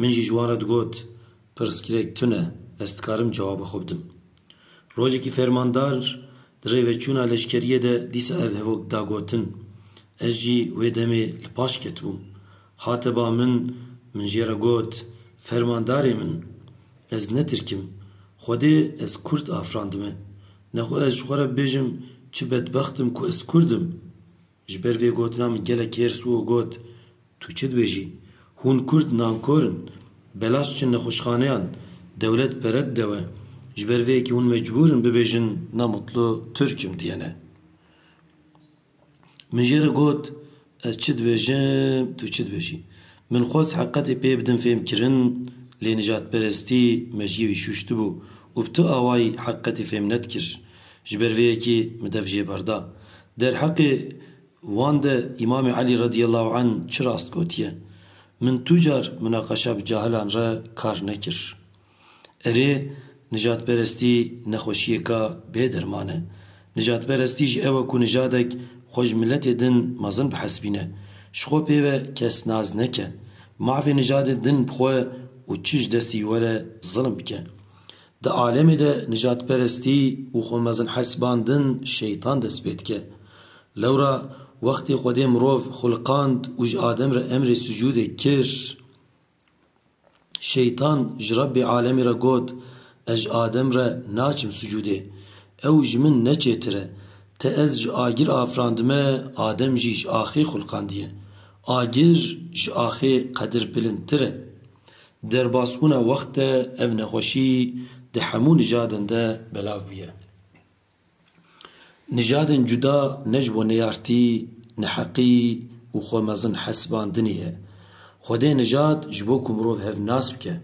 Min jî ji wan re digot, Pirsgirêk tune, ez dikarim cewaba xwe bidim. Rojekî fermandar di rê ve çûna leşkeriyê de dîsa ev hevok da gotin. Ez jî wê demê li paş ketibûm. Hate ba min, min jê re got, Fermandarê min, ez ne tirk im. Xwedê ez kurd afirandime. Nexwe ez ji xwe re bibêjim çi bedbext im ku ez kurd im. Ji ber vê gotina min gelek kêr Suo got, Tu çi dibêjî? Hûn Kurd nankor in. Belaş çin nexweşxaneyan. Dewlet pere dide we. Ji ber vê yekê hûn mecbûr in bibêjin Na mutlu Tirk im diyene. Min jê re got, Ez çi dibêjim, tu çi dibêjî? Min xwest heqetê pê bidim fêmkirin, lê nijadperestî meciyê wî şûştibû û bi tu awayî heqetê fêm nedikir. Ji ber vê yekê min dev jê berda. Derheqê wan de Îmamê Elî radîyallahu anh çi rast gotiye, Min tu car munaqeşa bi cahilan re kar nekir. Erê, nijadperestî nexweşiyêka bê derman e. Nijadperestî ji ew e ku nijadek xwe ji miletê din mezin bihesibîne, ji xwe pê ve kes naz neke, mafê nijadê din bixwe û çi ji destî were zilm bike. Di alemê de nijadperestî û xwemezinhesibandin şeytan dest pê dike. Lewra wextê Xwedê mirov xulqand û ji Adem re emrê sucûdê kir, şeytan ji Rebbê alemê re got, Ez ji Adem re naçim sucûdê. Ew ji min neçêtir e. Ti ez ji agir afirandime, Adem jî ji axê xulqandiye. Agir ji axê qedir bilintir e. Derbasbûna wext de ev nexweşî di hemû nijadên de belav bûye. Nijadên cuda ne ji bo neyartî, neheqî û xwe mezin hesibandinê ye. Xwedê nijad ji bo ku mirov hev nas bike,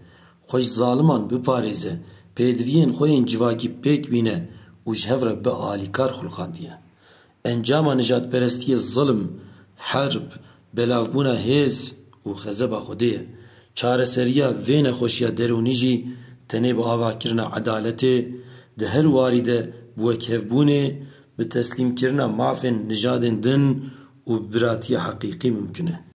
xwe ji zaliman biparêze, pêdiviyên xwe yên civakî pêk bîne û ji hev re bialîkar xulqandiye. Encama nijadperestiyê zilm, herb, belavbûna hêz û xezeba xwedê ye. Çareseriya vê nexweşiya derûnî jî tenê bi avakirina edaletê, di her warî de bi wekhevbûnê, bi teslîmkirina mafên nijadên din û bi biratiya heqîqî mimkun e.